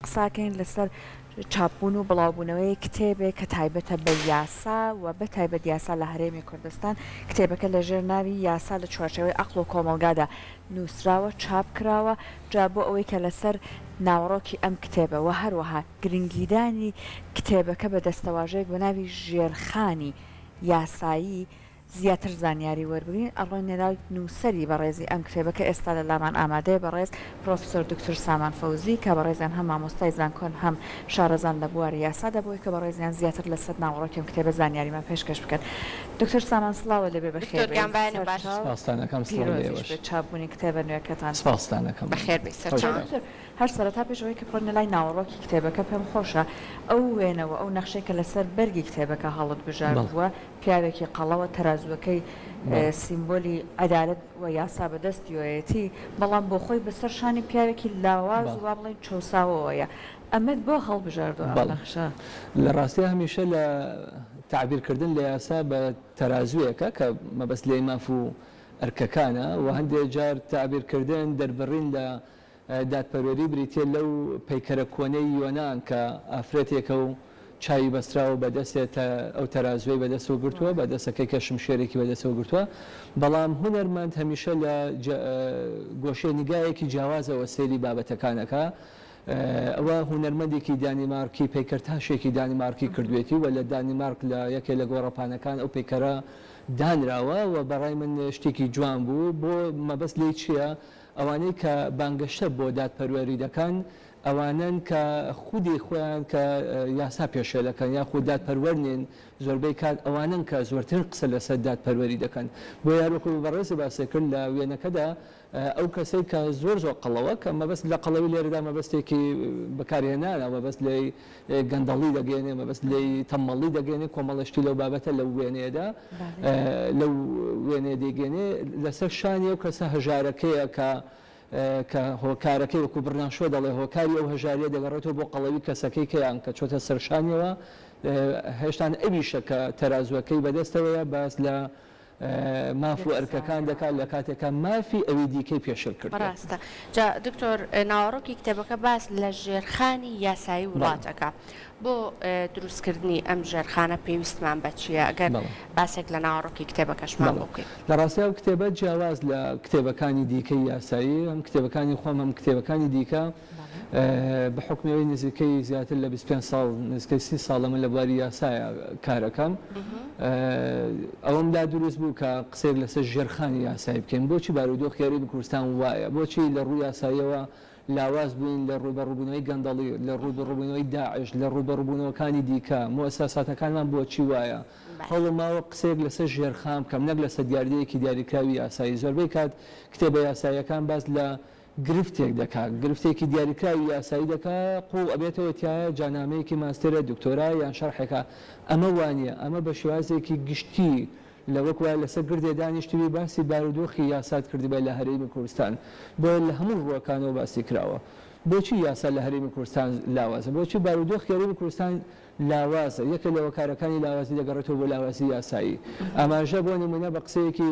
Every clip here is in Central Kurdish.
قساکەین لەسەر چاپبوون و بڵاوبوونەوەی کتێبێک کە تایبەتە بە یاسا و بە تایبەت یاسا لە هەرێمی کوردستان، کتێبەکە لە ژێر ناوی یاسا لە چوارچێوەی ئەقڵ و کۆمەڵگادا نووسراوە، چاپ کراوە، جا بۆ ئەوەی کە لەسەر ناوەڕۆکی ئەم کتێبە و هەروەها گرنگیدانی کتێبەکە بە دەستەواژەیەک بە ناوی ژێرخانی یاسایی، زیاتر زانیاری وەربگرین ئەڕۆینەلای نووسەری بەڕێزی ئەم کتێبە کە ئێستا لە لامان ئامادەیە بەڕێز پرۆفسۆر دوکتور سامان فەوزی کە بەڕێزیان هەم مامۆستای زانکۆن هەم شارەزان لە بواری یاسادا بۆی کە بەڕێزیان زیاتر لە سەد ناوەڕۆکی ئەم کتێبە زانیاریمان پێشکەش بکەن دوکتور سامان سڵاوە لێبێ بەخێربێی سەرچاو پیرۆزیش بێت چاپبوونی کتێبە نوێکەتان بەخێربێی سەرچاو دوکتور هەر سەرەتا پێش ئەوەی کە بڕۆینە لای ناوەڕۆکی کتێبەکە پێم خۆشە ئەو وێنە وە ئەو نەخشەی کە لەسەر بەرگی کتێبەکە هەڵت بژاردووە پیاوێکی قەڵەوە تەرازووەکەی سیمبۆلی عەدالەت و یاسا بەدەستیۆیەتی، بەڵام بۆخۆی بەسەر شانی پیاوێکی لاواز و وابڵێین چەوساوەوەیە. ئەمەت بۆ هەڵبژاردوە ئەم نەخشە؟ لە ڕاستیا هەمیشە لە تەعبیر کردن لە یاسا بە تەرازوویەکە کە مەبەست لێی ماف و ئەرکەکانە و هەندێ جار تەعبیر کردن، دەربڕین لە دادپەروەری بریتییە لەو پەیکەرە کۆنەی یۆنان کە ئافرەتێکە و چاوی بەستراوە بە دەستێ تا ئەو تەرازووەی بە دەستەوە گرتووە، بە دەستەکەی کە شمشێرێکی بە دەستەوە گرتووە. بەڵام هونەرمەند هەمیشە لە گۆشەی نیگایەکی جیاوازەوە سەیری بابەتەکان ئەکا. ئەوە هونەرمەندێکی دانیمارکی پەیکەرتاشێکی دانیمارکی کردوویەتی و لە دانیمارک لە یەکێ لە گۆڕەپانەکان ئەو پەیکەرە دانراوە و بە ڕای من شتێکی جوان بوو. بۆ مەبەست لێی چییە؟ ئەوانەی کە بانگەشە بۆ دادپەروەری دەکەن ئەوانەن کە خودی خۆیان کە یاسا پێشێل دەکەن یاخود دادپەروەر نین، زۆربەی کات ئەوانەن کە زۆرترین قسە لەسەر دادپەروەری دەکەن. بۆیە هەروەکو بەڕێزی باسی کرد لە وێنەکەدا ئەو کەسەی کە زۆر زۆر قەڵەوە کە مەبەست لە قەڵەوی لێرەدا مەبەستێکی بەکارهێنانە مەبەست لێی، گەندەڵی دەگەیەنێ مەبەست لێی تەمەڵی دەگەێنێ کۆمەڵە شتی لەو بابەتە لەو وێنێدا لەو وێنێ دەگەێنێ لەسەر شانی ئەو کەسە هەژارەکەیە کە کە هۆکارەکەی وەکو بڕناشۆ دەڵێ هۆکاری ئەو هەژاریە دەگەڕێتەوە بۆ قەڵەوی کەسەکەی کەیان کە چۆتە سەرشانیەوە هێشتان ئەویشە کە تەرازوەکەی بەدەستەوەیە باس لە ماف و ئەرکەکان دەکات لە کاتێکا مافی ئەوی دیکەی پێشێل کردووە. ڕاستە. جا دکتۆر ناوەڕۆکی کتێبەکە باس لە ژێرخانی یاسایی وڵات ئەکا. بۆ دروست کردنی ئەم ژێرخانە پێویستمان بە چییە؟ ئەگەر باسێک لە ناوەڕۆکی کتێبەکەشمان بۆ بکەی. لە ڕاستی ئەو کتێبە جیاواز لە کتێبەکانی دیکەی یاسایی، هەم کتێبەکانی خۆم هەم کتێبەکانی دیکە، بە حوکمەوەی نزیکەی زیاتر لە بیست و پێنج ساڵ نزیکەی سی ساڵە من لە بواری یاسایە کار ئەکەم ئەوەم لا دروست بوو کە قسەیەک لەسەر ژێرخانی یاسایی بکەین بۆچی بارودۆخی هەرێمی کوردستان وایە بۆچی لە ڕووی یاساییەوە لاواز بووین لە ڕووبەڕووبوونەوەی گەندەڵی لە ڕووبەڕووبوونەوەی داعش لە ڕووبەڕووبوونەوەکانی دیکە موسەساتەکانمان بۆچی وایە هەوڵم ماوە قسەیەک لەسەر ژێرخان بکەم نەک لەسەر دیاردەیەکی دیاریکراوی یاسایی زۆربەی کات کتێبە یاساییەکان باس لە گرفتێک دەکا، گرفتێکی دیاریکراوی یاسایی دەکا، قووڵ ئەبێتەوە تیایا، جا نامەیەکی ماستێرە، دکتۆرا یان شەرحێکە. ئەمە وا نییە، ئەمە بە شێوازێکی گشتی لە وەک وایە لەسەر گردێ دانیشتبی باسی بارودۆخی یاسات کردبێ لە هەرێمی کوردستان، بۆیە لە هەموو ڕووەکانەوە باسی کراوە. بۆچی یاسا لە هەرێمی کوردستان لاوازە؟ بۆچی بارودۆخی هەرێمی کوردستان لاوازە؟ یەکێ لە هۆکارەکانی لاوازی دەگەڕێتەوە بۆ لاوازی یاسایی. ئاماژە بۆ نموونە بە قسەیەکی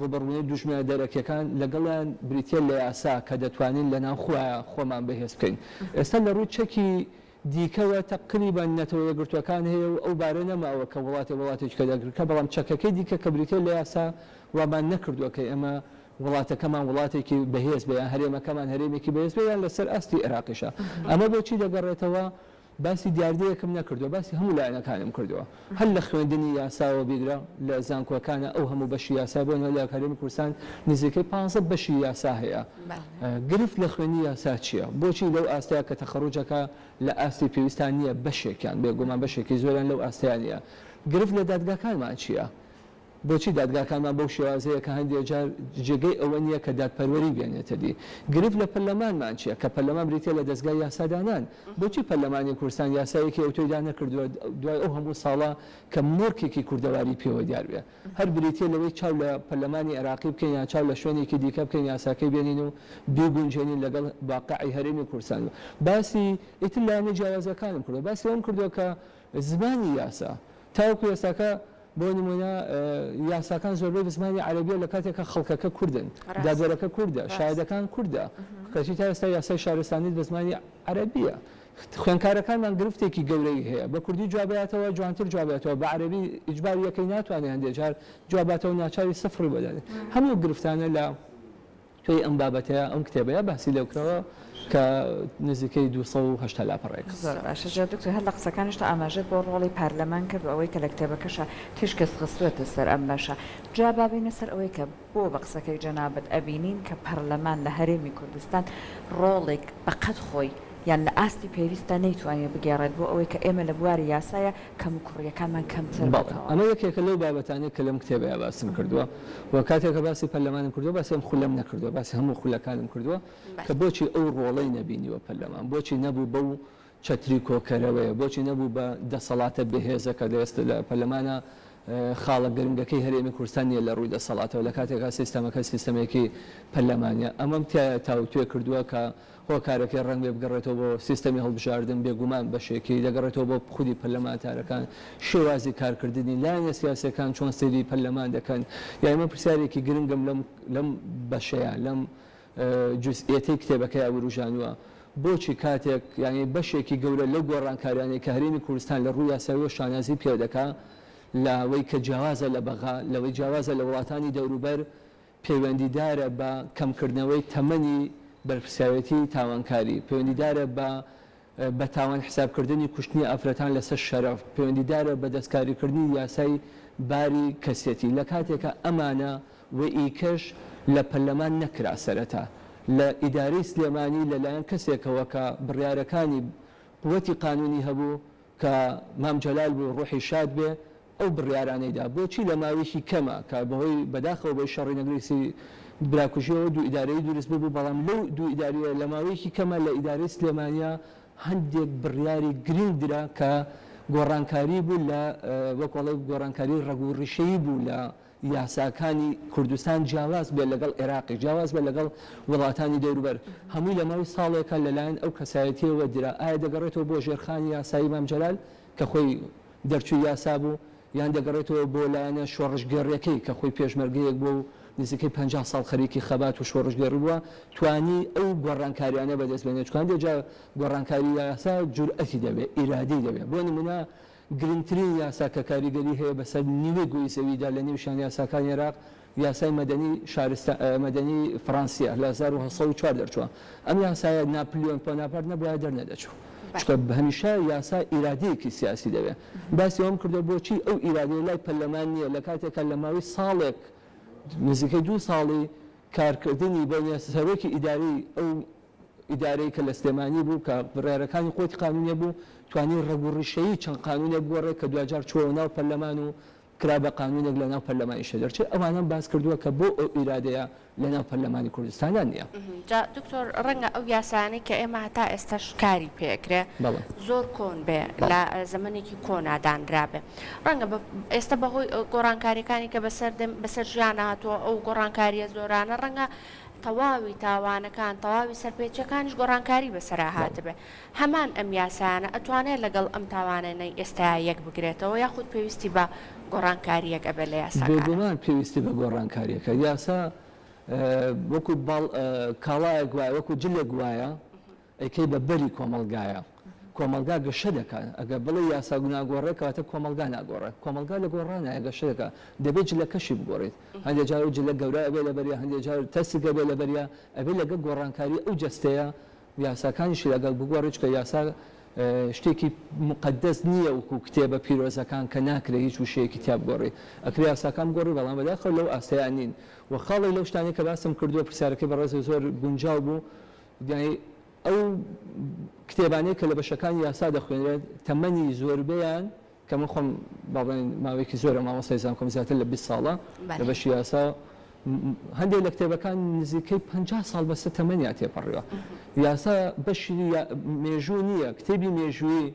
ڕووبەڕوونی دوژمنە دەرەکییەکان لەگەڵیان بریتییە لە یاسا کە دەتوانین لەناوخۆیە خۆمان بەهێز بکەین. ئێستا لە ڕووی چەکی دیکەوە تەقریبەن نەتەوە یەکگرتووەکان هەیە و ئەو بارە نەماوە کە وڵاتێ وڵاتێکی کە دەرک بکا، بەڵام چەکەکەی دیکە کە بریتییە لە یاسا وامان نەکردووە کە ئێمە وڵاتەکەمان وڵاتێکی بەهێز بێ یان هەرێمەکەمان هەرێمێکی بەهێز بێ یان لەسەر ئاستی ئێراقیشە ئەمە بۆ چی دەگەڕێتەوە؟ باسی دیاردەیەکم نەکردوە باسی هەموو لایەنەکانم کردوە هەر لە خوێندنی یاساوە بیگرە لە زانکۆکانە ئەو هەموو بەشی یاسای بۆ نمونە لە هەرێمی کوردستان نزیکەی پانزە بەشی یاسا هەیە گرفت لە خوێندنی یاسا چیە بۆچی لەو ئاستەیە کە تەخەڕوجەکە لە ئاستی پێویستان نیە بەشێکیان بێگومان بەشێکی زۆریان لەو ئاستەیان نیە گرفت لە دادگاکانمان چیە بۆچی دادگاکانمان بەو شێوازەیە کە هەندێک جار جێگەی ئەوە نییە کە دادپەروەری بێنێتە دی؟ گرفت لە پەرلەمانمان چییە، کە پەرلەمان بریتییە لە دەزگای یاسادانان؟ بۆچی پەرلەمانی کوردستان یاسایەکی ئەوتۆی دانەکردووە دوای ئەو هەموو ساڵە کە مۆرکێکی کوردەواری پێوە دیار بێ؟ هەر بریتییە لەوەی چاو لە پەرلەمانی عێراقی بکەین یان چاو لە شوێنێکی دیکە بکەین یاساکەی بێنین و بیگونجێنین لەگەڵ واقعی هەرێمی کوردستان؟ باسی ئیتر لایەنە جیاوازەکانم کردووە، باسی ئەوەم کردووە کە زمانی یاسا تاوەکو ئێستاکە، بۆ نموونە یاساکان زۆربەی بە زمانی عەرەبییە لە کاتێک کە خەڵکەکە کوردن، دادوەرەکە کوردە، شایەدەکان کوردە، کەچی تا ئێستا یاسای شارستانیت بە زمانی عەرەبییە. خوێندکارەکانمان گرفتێکی گەورەی هەیە، بە کوردی جواب باتەوە جوانتر جواب باتەوە، بە عەرەبی ئیجبار یەکەی ناتوانێ هەندێ جار جواب باتەوە ناچاری سفڕی بۆ دادەنێ. هەموو ئەو گرفتانە لە پێی ئەم بابەتەیە ئەم کتێبەیە باسی لێ کراوە کە نزیکەی دوو سەد و هەشتا لاپەڕەیەک. زۆر باشە جا دکتۆر هەر لە قسەکانیشتە ئاماژەت بۆ ڕۆڵی پارلەمان کرد و ئەوەی کە لە کتێبەکەشا تیشکت خستووەتە سەر ئەم بەشە جا با بێینە سەر ئەوەی کە بۆ بە قسەکەی جەنابت ئەبینین کە پارلەمان لە هەرێمی کوردستان ڕۆڵێک بە قەد خۆی یان لە ئاستی پێویستدا نەیتوانیوە بگێڕێت بۆ ئەوەی کە ئێمە لە بواری یاسایە کەموکوڕییەکانمان کەمتر بکەوە. بەڵێ، ئەمە یەکێکە لەو بابەتانەی کە لەم کتێبەیا باسم کردووە و کاتێک کە باسی پەرلەمانم کردووە باسی ئەم خولەم نەکردووە، باسی هەموو خولەکانم کردووە کە بۆچی ئەو ڕۆڵەی نەبینیوە پەرلەمان، بۆچی نەبوو بەو چەتری کۆکەرەوەیە، بۆچی نەبوو بە دەسەڵاتە بەهێزە کە لە ئێستا لە پەرلەمانا خاڵە گرنگەکەی هەرێمی کوردستان نییە لە ڕووی دەسەڵاتەوە لە کاتێکا سیستەمەکە سیستەمێکی پەرلەمانییە. ئەمەم تیایا تاوتوێ کردووە کە. هۆکارەکەی ڕەنگبێ بگەڕێتەوە بۆ سیستەمی هەڵبژاردن، بێگومان بەشێکی دەگەڕێتەوە بۆ خودی پەرلەمانتارەکان، شێوازی کارکردنی، لایەنە سیاسییەکان چۆن سەیری پەرلەمان دەکەن. یانی من پرسیارێکی گرنگم لەم لەم بەشەیا، لەم جوزئیەتەی کتێبەکەیا وروژانوە، بۆچی کاتێک یانی بەشێکی گەورە لەو گۆڕانکاریانەی کە هەرێمی کوردستان لە ڕووی یاساییەوە شانازی پێدەکا، لەوەی کە جیاوازە لە بەغا، لەوەی جیاوازە لە وڵاتانی دەوروبەر، پەیوەندیدارە بە کەمکردنەوەی تەمەنی بەرپرسیارێتیی تاوانکاری، پەیوەندیدارە بە بە تاوان حسابکردنی کوشتنی ئافرەتان لەسەر شەرەف، پەیوەندیدارە بە دەستکاریکردنی یاسای باری کەسێتی، لە کاتێکا ئەمانە و ئیکەش لە پەرلەمان نەکرا سەرەتا لە ئیدارەی سلێمانی لە لایەن کەسێکەوە کە بڕیارەکانی قوتی قانونی هەبوو کە مام جەلال بوو ڕوحی شاد بێ، ئەو بڕیارانەی دا بۆچی لە ماوەیەکی کەمە کە بەهۆی بەداخەوە بەهۆی شەڕی نەگریسی براکوژیەوە دوو ئیدارەیی دروست ببوو بەڵام لەو دوو ئیداریە لە ماوەیەکی کەمە لە ئیدارەی سلێمانیا هەندێک بڕیاری گرینگ درا کە گۆڕانکاری بوو لە وەک وەڵێ گۆڕانکاری ڕەگ و ڕیشەیی بوو لە یاساکانی کوردستان جیاواز بێت لەگەڵ عێراقی جیاواز بێت لەگەڵ وڵاتانی دەوروبەر هەمووی لە ماوەی ساڵێکە لەلایەن ئەو کەسایەتیەوە درا ئایا دەگەڕێتەوە بۆ ژێرخانی یاسایی مام جەلال کە خۆی دەرچووی یاسا بوو، یان دەگەڕێتەوە بۆ لایەنە شۆڕشگێڕیەکەی کە خۆی پێشمەرگەیەک بووە و نزیکەی پەنجا ساڵ خەریکی خەبات و شۆڕشگێڕی بووە توانی ئەو گۆڕانکاریانە بەدەست بێنێت چوان دێت جا گۆڕانکاری یاسا جورئەتی دەوێت ئیرادەی دەوێت بۆ نمونە گرنگترین یاسا کە کاریگەری هەیە بەسەر نیوەی گۆی زەویدا لە نێوشیان یاساکانی عێراق یاسای مەدەنی شارستان مەدەنی فڕانسییە لە هەزار و هەشت سەد و چوار دەرچووە. ئەم یاسایە ناپلیۆن پۆناپارت نەبوایە دەرنەدەچوو. چونکە هەمیشە یاسا ئیرادەیەکی سیاسی دەوێ. باسی ئەوەم کردووە بۆچی ئەو ئیرادەیە لای پەرلەمان نییە لە کاتێکا لە ماوەی ساڵێک نزیکەی دوو ساڵی کارکردنی بەینە سەرۆکی ئیدارەی ئەو ئیدارەی کە لە سلێمانی بوو کە بڕیارەکانی خۆتی قانونی بوو توانی ڕەگ و ڕیشەیی چەند قانونێک بگۆڕێ کە دواجار چووەوە ناو پەرلەمان و کرا بە قانونێک لە ناو پەرلەمانیشە دەرچێ ئەوانەم باس کردووە کە بۆ ئەو ئیرادەیە لە ناو پەرلەمانی کوردستانا نیە. جا دکتۆر ڕەنگە ئەو یاسایانەی کە ئێمە هەتا ئێستاش کاری پێ ئەکرێ زۆر کۆن بێ لە زەمەنێکی کۆنا دانرابێ ڕەنگە بە ئێستە بە هۆی گۆڕانکاریەکانی کە بەسەر دێن بەسەر ژیانە هاتووە ئەو گۆڕانکاریە زۆرانە ڕەنگە تەواوی تاوانەکان تەواوی سەرپێچیەکانیش گۆڕانکاری بەسەرا هاتبێ. هەمان ئەم یاسایانە ئەتوانێ لەگەڵ ئەم تاوانەنەی ئێستایا یەک بگرێتەوە یاخود پێویستی بە گۆڕانکاریەک ئەبێ لە یاساکانا؟ بێگومان پێویستی بە گۆڕانکاریەکە، یاسا وەکو باڵ کاڵایەک وایە وەکو جلێک وایە ئەیکەی بە بەری کۆمەڵگایا، کۆمەڵگا گەشە دەکا ئەگەر بڵێی یاسا ناگۆڕێ کەواتە کۆمەڵگا ناگۆڕێ، کۆمەڵگا لە گۆڕانایە گەشە دەکا دەبێ جلەکەشی بگۆڕیت، هەندێ جار ئەو جلە گەورە ئەبێ لەبەریا هەندێ جار تەسک ئەبێ لەبەریا، ئەبێ لەگەڵ گۆڕانکاری ئەو جەستەیە یاساکانیشی لەگەڵ بگۆڕی چونکە یاسا شتێکی مقدس نییە وکو کتێبە پیرۆزەکان کە ناکرێت هیچ وشەیەکی تیا بگۆڕی ئەکرێ یاساکان بگۆڕی بەڵام بەداخەوە لەو ئاستەیان نین و خاڵی لەو شتانەی کە باسم کردووە پرسیارەکەی بەڕێزە زۆر گونجاو بوو ئەو کتێبانەی کە لە بەشەکانی یاسا دەخوێنرێت تەمەنی زۆربەیان کە من خۆم با بڵێین ماوەیەکی زۆرە مامۆستای زانکۆم زیاتر لە بیست ساڵە لە بەشی یاسا و هەندێک لە کتێبەکان نزیکەی پەنجا ساڵ بەسە تەمەنیان تێپەڕیوە یاسا بەشی مێژوو نییە کتێبی مێژووی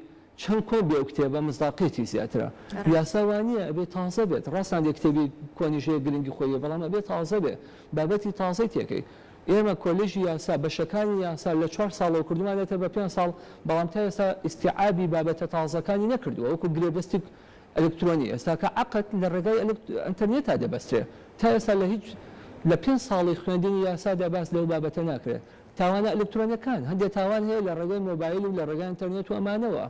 چەند کۆن بێ و کتێبە مزداقیەتی زیاترە یاسا وا نییە ئەبێ تازە بێت ڕاستان دێ کتێبی کۆنیش هەیە گرنگی خۆی بەڵام ئەبێ تازە بێ بابەتی تازەی تێکەی ئێمە کۆلێژی یاسا بەشەکانی یاسا لە چوار ساڵەوە کردومانێتە بە پێنج ساڵ، بەڵام تا ئێستا ئیستیعابی بابەتە تازەکانی نەکردووە، وەکو گرێبەستی ئەلکترۆنی ئێستا کە عەقد لە ڕێگای ئەنتەرنێتا دەبەسترێ، تا ئێستا لە هیچ لە پێنج ساڵی خوێندنی یاسادا باس لەو بابەتە ناکرێ. تاوانە ئەلکترۆنەکان، هەندێ تاوان هەیە لە ڕێگای مۆبایل و لە ڕێگای ئەنتەرنێت و ئەمانەوە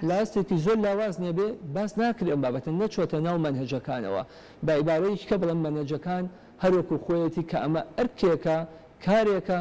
لە ئاستێکی زۆر لاواز نەبێ باس ناکرێ ئەم بابەتە، نەچۆتە ناو مەنهەجەکانەوە، بە ئیبارەیەکی کە بڵێم مەنهەجەکان هەروەکو خۆیەتی کە ئەمە ئەرکێکە، کارێکە،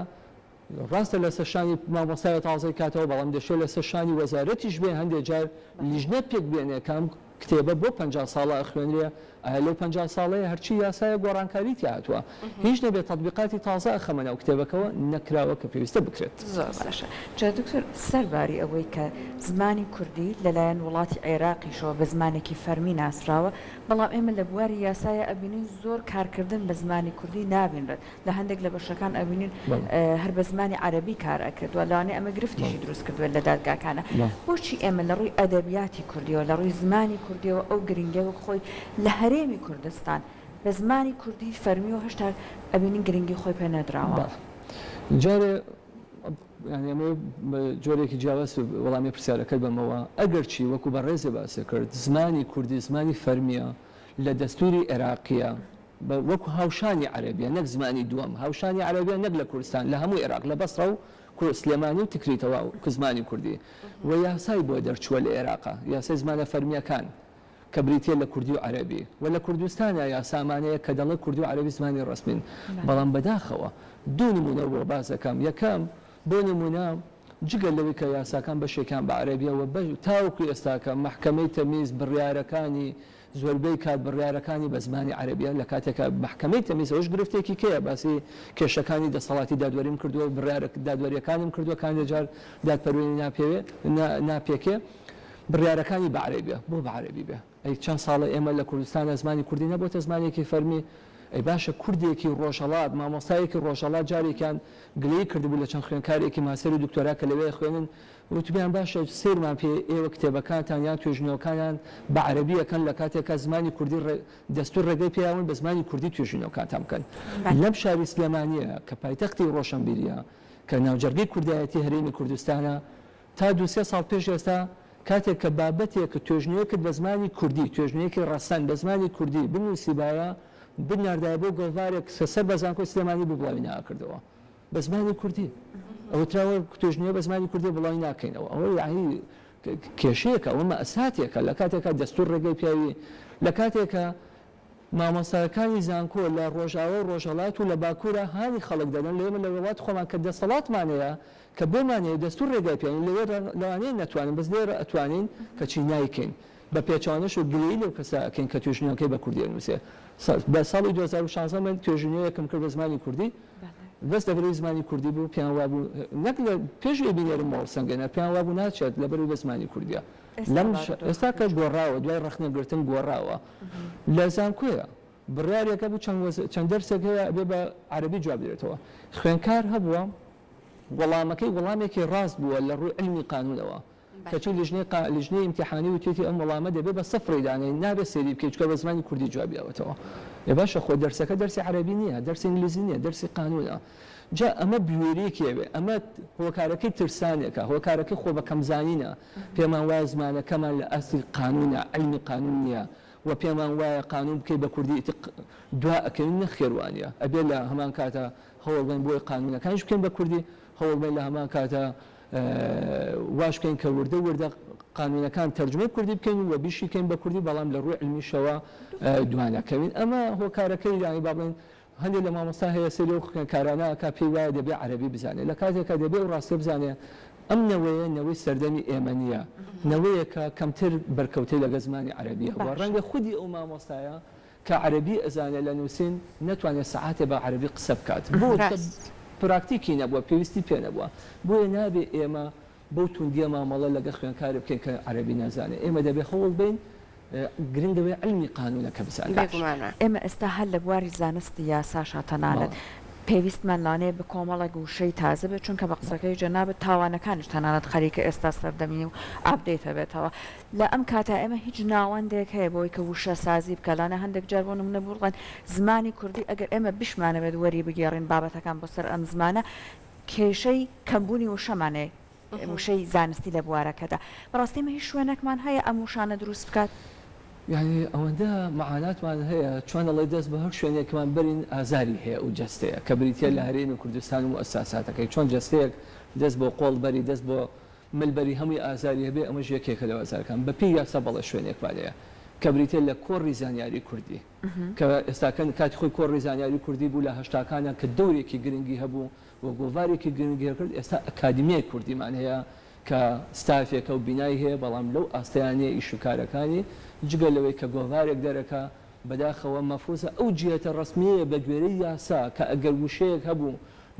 ڕاستە لەسەر شانی مامۆستایە تازەی کاتەوە، بەڵام دەشێ لەسەر شانی وەزارەتیش بێ هەندێ جار لیژنە پێک بێنێ کە ئەم کتێبە بۆ پەنجا ساڵە ئەخوێنرێ، ئایا لەو پەنجا ساڵەیە هەرچی یاسایە گۆڕانکاری تیا هاتووە، هیچ نەبێ تەتبیقاتی تازە ئەخەمە ناو کتێبەکەوە نەکراوە کە پێویستە بکرێت. زۆر باشە. جا دکتۆر سەر باری ئەوەی کە زمانی کوردی لەلایەن وڵاتی عێراقیشەوە بە زمانێکی فەرمی ناسراوە، بەڵام ئێمە لە بواری یاسایا ئەبینین زۆر کارکردن بە زمانی کوردی نابینرێت، لە هەندێک لە بەشەکان ئەبینین هەر بە زمانی عەرەبی کار ئەکرێت و لەوانەیە ئەمە گرفتیشی دروست کردبێت لە دادگاکانا. بۆچی ئێمە لە ڕووی ئەدەبیاتی کوردییەوە، لە ڕووی زمانی کوردییەوە ئەو گرنگییە وەک خۆی لە هەرێمی کوردستان بە زمانی کوردی فەرمی و هەشتا ئەبینین گرنگی خۆی پێ نەدراوە؟ بەڵێ. جارێ یانی ئەمەوێ بە جۆرێکی جیاواز وەڵامی پرسیارەکەت بەمەوە ئەگەرچی وەکو بەڕێزێ باسێ کرد زمانی کوردی زمانی فەرمیە لە دەستوری عێراقیە وەکو هاوشانی عەرەبیە نەک زمانی دووەم هاوشانی عەرەبیە نەک لە کوردستان لە هەموو عێراق لە بەسڕە و سلێمانی و تکری تەواو کە زمانی کوردی و یاسای بۆ دەرچووە لە عێراقا یاسای زمانە فەرمیەکان کە بریتییە لە کوردی و عەرەبی و لە کوردستانا یا سامانەیەک کە دەڵێ کوردی و عەرەبی زمانی ڕەسمین. بەڵام بەداخەوە دوو نموونە بۆ باس دەکەم، یەکەم، بۆ نموونە جگە لەوەی کە یاساکان بەشێکیان بە عەرەبییە و تاوەکو ئێستاکە مەحکەمەی تەمیز بڕیارەکانی زۆربەی کات بڕیارەکانی بە زمانی عەرەبییە، لە کاتێکا مەحکەمەی تەمیز ئەوەش گرفتێکی کەیە باسی کێشەکانی دەسەڵاتی دادوەریم کردووە و بڕیارە دادوەرییەکانم کردووە کانێجار دادپەروێری ناپێوێ، ناپێکێ. بڕیارەکانی بە عەرەبی بێ بۆ بە عەرەبی بێ ئەی چەند ساڵە ئێمە لە کوردستان زمانی کوردی نەبۆتە زمانێکی فەرمی ئەی باشە کوردێکی ڕۆژەڵات مامۆستایەکی ڕۆژەڵات جارێکیان گلەی کردبوو لە چەند خوێنکارێکی ماسەر و دکتۆرا کە لەوێ خوێنن وتبیان باشە سیرمان پێ ئێوە کتێبەکانتان یان توێژینەوەکانیان بە عەربیەکەن لە کاتێکا زمانی کوردی دەستور ڕێگەی پیاون بە زمانی کوردی توێژینەوەکانتان بکەن لەم شاری سلێمانە کە پایتەختی ڕۆشنبیریە کە ناوجەرگەی کوردایەتی هەرێمی کوردستانە تا دوو سێ ساڵ پێش ئێستا کاتێک کە بابەتێکت، توێژنەوەیەکت بە زمانی کوردی، توێژنەوەیەکی ڕەسەن بە زمانی کوردی بنووسیبایە، بتناردایە بۆ گۆڤارێک کە سەر بە زانکۆی سلێمانی بوو بڵاوی نەئەکردەوە بە زمانی کوردی. ئەوتراوە توێژنەوە بە زمانی کوردی بڵاوی ناکەینەوە. ئەوە یەعنی کێشەیەکە، ئەوە مەئساتێکە. لە کاتێکا دەستوور ڕێگەی پێوی، لە کاتێکا مامۆستاکانی زانکۆ لە ڕۆژاوا و ڕۆژهەڵات و لە باکوورا هانی خەڵک دەدەن، لە ئێمە لە وڵاتی خۆمان کە دەسەڵاتمان هەیە، کە بۆمانەیە دەستور ڕێگای پێ لەوێ لەوانەیە نەتوانن بەس لێرە ئەتوانین کەچی نایکەین بە پێچەوانەش و گلەیی لەو کەسە ئەکەین کە توێژینەوەکەی بە کوردی ئەنوسێ لە ساڵی دوو هەزار و شازدە من توێژینەوەیەکم کرد بە زمانی کوردی بەس دەبری زمانی کوردی بوو پێیان وابوو نەک لە پێش ئێ بینێرم مۆڵ سەنگێنەر پێیان وابوو ناچێت لە بەروی بە زمانی کوردیە لەم ئێستا کە گۆڕاوە دوای ڕەخنەگرتن گۆڕاوە لە زانکۆیە بڕیارێک هەبوو چەند وەز چەند دەرسێک هەیە ئەبێ بە عەرەبی جواب درێتەوە خوێنکار هەبووە وەڵامەکەی وەڵامێکی ڕاست بووە لە ڕووی علمی قانوونەوە بەه کەچی لیژنەی قا لیژنەی ئیمتیحانی وتوێتی ئەم وەڵامە دەبێ بە سفڕی دانێین نابێ سەیری بکەی چکە بە زمانی کوردی جوابی داوەتەوە ئێ باشە خۆ دەرسەکە دەرسی عەرەبی نییە دەرسی ئینگلیزی نییە دەرسی قانوونە جا ئەمە بوێریەکی ئەوێ ئەمە هۆکارەکەی ترسانێکە هۆکارەکەی خۆ بە کەمزانینە پێمان وایە زمانەکەمان لە ئاستی قانوونە علمی قانوون نییە وە پێمان وایە قانون بکەی بە کوردی ئیتر دوا ئەکەوین نەخێر وانیە ئەبێت لە هەمان کاتا هەوڵ بەین بۆی قانونەکانیش بکەین بە کوردی هەوڵ بەین لە هەمان کاتا واش بکەین کە وردە وردە قانونەکان تەرجمەی کوردی بکەین و بیشی کەین بە کوردی بەڵام لە ڕووی علمیشەوە دوانەکەوین ئەمە هۆکارەکەی یانی با بڵێن هەندێ لە مامۆستا هەیە سەیری ئەو کارانە ئەکا پێی وایە دەبێ عەرەبی بزانێ لە کاتێکا دەبێ ئەو ڕاستیە بزانێ ئەم نەوەیە نەوەی سەردەمی ئێمە نیە نەوەیەکە کەمتر بەرکەوتەی لەگەل زمانی عەرەبی هەبوە ڕەنگە خودی ئەو مامۆستایە کە عەرەبی ئەزانێ لە نوسین نەتوانێ سەعاتێ بە عەرەبی قسە بکات بۆ؟ چکە پراکتیکی نەبوە پێویستی پێ نەبوە بۆیە نابێ ئێمە بەو توندیە مامەڵە لەگەڵ خوێندکارێک بکەین کە عەرەبی نازانێت، ئێمە دەبێت هەوڵ بدەین گرنگ ئەوەیە عیلمی قانوونەکە بزانێت. ئێمە ئێستا هەر لە بواری زانستی یاساشا تەنانەت پێویستمان لانەیە بە کۆمەڵێک وشەی تازە بێت، چونکە بە قسەکەی جەنابت تاوانەکانیش تەنانەت خەریکە ئێستا سەردەمی و ئاپدەیت ئەبێتەوە لە ئەم کاتا ئێمە هیچ ناوەندێک هەیە بۆی کە وشەسازی بکات لانە هەندێک جار بۆ نمونە بووڵێن زمانی کوردی ئەگەر ئێمە بیشمانەوێت وەری بگێڕین بابەتەکان بۆ سەر ئەم زمانە کێشەی کەمبوونی وشەمان هەیە، وشەی زانستی لە بوارەکەدا. بەڕاستی ئێمە هیچ شوێنێکمان هەیە ئەم وشانە دروست بکات؟ یانی ئەوەندە مەعاناتمان هەیە، چۆن ئەڵێ دەست بە هەر شوێنێکمان بەرین ئازاری هەیە ئەو جەستەیە، کە بریتییە لە هەرێمی کوردستان و موئەساساتەکەی، چۆن جەستەیەک دەست بۆ قۆڵ بەری، دەست بۆ مل بەری هەمووی ئازاری هەبێ، ئەمەش یەکێکە لە ئازارەکان. بەپێی یاسا بەڵێ شوێنێکمان هەیە، کە بریتییە لە کۆڕی زانیاری کوردی. کە ئێستاکە کاتی خۆی کۆڕی زانیاری کوردی بوو لە هەشتاکانا کە دەورێکی گرنگی هەبوو و گۆڤارێکی گرنگی هەکرد ئێستا ئەکادیمیای کوردیمان هەیە کە ستافێکە و بینای هەیە بەڵام لەو ئاستەیا نیە ئیش و کارەکانی جگە لەوەی کە گۆڤارێک دەرەکا بەداخەوە مەفروزە ئەو جیهەتە ڕەسمیەیە بەگوێرەی یاسا کە ئەگەر وشەیەک هەبوو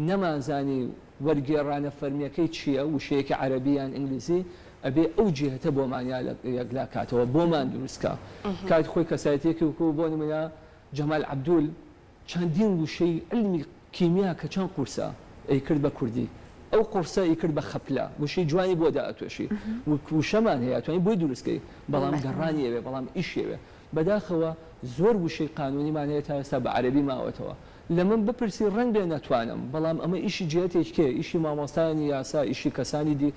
نەمانزانی وەرگێڕانە فەرمیەکەی چیە؟ وشەیەکی عەرەبی یان ئینگلیزی ئەبێ ئەو جیهەتە بۆمان یا یەکلا کاتەوە بۆمان دروست کا کات خۆی کەسایەتیەکی وەکو بۆ نمونە جەمال عەبدول چەندین وشەی علمی کیمیا کە چەند قورسە ئەی کرد بە کوردی ئەو قوڕسە ی کرد بە خەپلە وشەی جوانی بۆ دائەتۆشی وک وشەمان هەیە ئەتوانی بۆی دروست کەی بەڵام گەڕانی ئەوێ بەڵام ئیشی ئەوێ بەداخەوە زۆر وشەی قانونیمان هەیە تا ئێستا بە عەرەبی ماوەتەوە لە من بپرسی ڕەنگبێ نەتوانم، بەڵام ئەمە ئیشی جیهەتێک کێ، ئیشی مامۆستایانی یاسا، ئیشی کەسانی دی،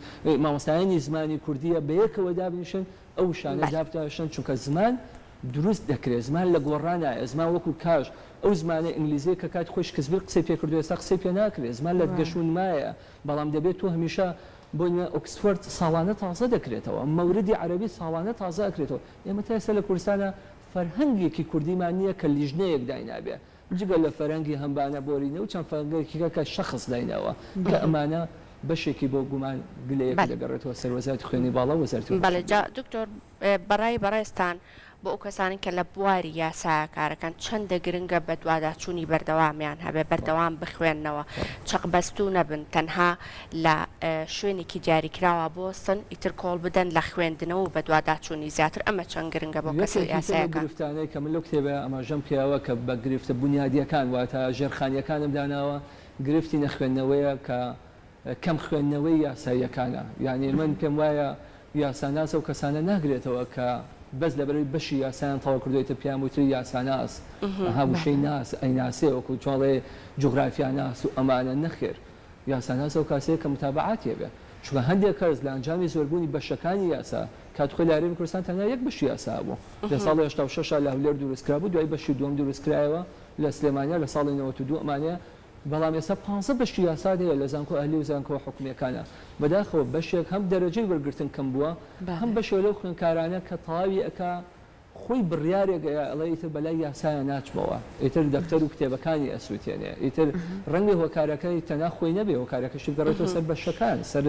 مامۆستایانی زمانی کوردییە بەیەکەوە دابنیشن ئەو وشانە بەل. دابتاشن، چونکە زمان دروست دەکرێ، زمان لە گۆڕا نایە، زمان وەکوو کاژ، ئەو زمانە ئینگلیزییە کە کاتی خۆی شکسبیر قسەی پێ کردووە ئێستا قسەی پێ ناکرێ، زمان لە گەش و نمایە، بەڵام دەبێ تۆ هەمیشە، بۆ نموونە ئۆکسفۆرد ساڵانە تازە دەکرێتەوە، مەوردی عەرەبی ساڵانە تازە ئەکرێتەوە، ئێمە تا ئێستا لە کوردستانا فەرهەنگێکی کوردیمان نییە کە لیژنەیەک داینابێ، جگە لە فەرەنگی هەمبانە بۆرینە و چەند فەرەنگێکی کە کە شەخس دایناوە کە ئەمانە بەشێکی بۆ گومان گلەیەکە بەل. دەگەڕێتەوە سەر وەزارەتی خوێنی باڵا و وەزارەتی بەڵێ جا هۆشبەرین. دکتۆر بەڕای بەڕێزتان بۆ ئەو کەسانەی کە لە بواری یاسایە کارەکەن چەندە گرنگە بەدواداچوونی بەردەوامیان هەبێ بەردەوام بخوێننەوە چەقبەستوو نەبن تەنها لە شوێنێکی دیاریکراوا بوەستن ئیتر کۆڵ بدەن لە خوێندنەوە و بەدواداچوونی زیاتر ئەمە چەند گرنگە بۆ کەسە یەکێکی تر لەو یاسایەکان. گرفتانەی کە من لەو کتێبە ئاماژەم پێیاوە کە بە گرفتە بونیادیەکان واتە ژێرخانیەکانم داناوە گرفتی نەخوێندنەوەیە کە کەم خوێندنەوەی یاساییەکانە یانی من پێم وایە یاساناس ئەو کەسانە ناگرێتەوە کە بەس لەبەرەوەی بەشی یاسایان تەواو کردوە ئیتر پێیان وتری یاساناس ئەها وشەی ناس ئەیناسێ وەکو چۆن ئەڵێ جوغرافیاناس و ئەمانە نەخێر یاساناس ئەو کاسەیە کە متابەعاتی هەبێ، چونکە هەندێک کەس لە ئەنجامی زۆربوونی بەشەکانی یاسا، کات خۆی لە عێرەبی کوردستان تەنیا یەک بەشی یاسا هەبوو، لە ساڵی هەشتا و شەش لە هەولێر دروست کرابوو، دوای بەشی دووەم دروست کرایەوە لە سلێمانیا لە ساڵی نەوەت و دوو ئەمانەیە، بەڵام ئێستا پانزە بەشی یاسات هەیە لە زانکۆ ئەهلی و زانکۆ حکومییەکانا، بەداخەوە بەشێک هەم دەرەجەی وەرگرتن کەم بووە، هەم بەشێک لەو خوێندکارانە کە تەواوی ئەکا، خۆی بڕیارێک ئەیا ئەڵێ ئیتر بەلای یاسایا ناچمەوە ئیتر دەفتەرو کتێبەکانی ئەسوتێنێ ئیتر ڕەنگە هۆکارەکە تەنها خۆی نەبێ هۆکارەکەشی بگەڕێتەوە سەر بەشەکان سەر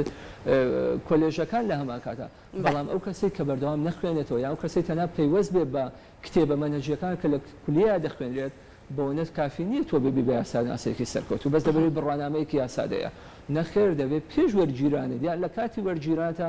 کۆلێژەکان لە هەمان کاتا بەڵام ئەو کەسەی کە بەردەوام نەخوێنێتەوە یان ئەو کەسەی تەنها پەیوەست بێ بە کتێبە مەنهەجیەکان کە لە کولیە دەخوێنرێت بەوەنەت کافی نییە تۆ ببی بە یاساناسێکی سەرکەوتوو بەس دەبێت بڕوانامەیەکی یاسادەیە نەخێر دەبێت پێش وەرگیرانت یان لە کاتی وەرگیرانتە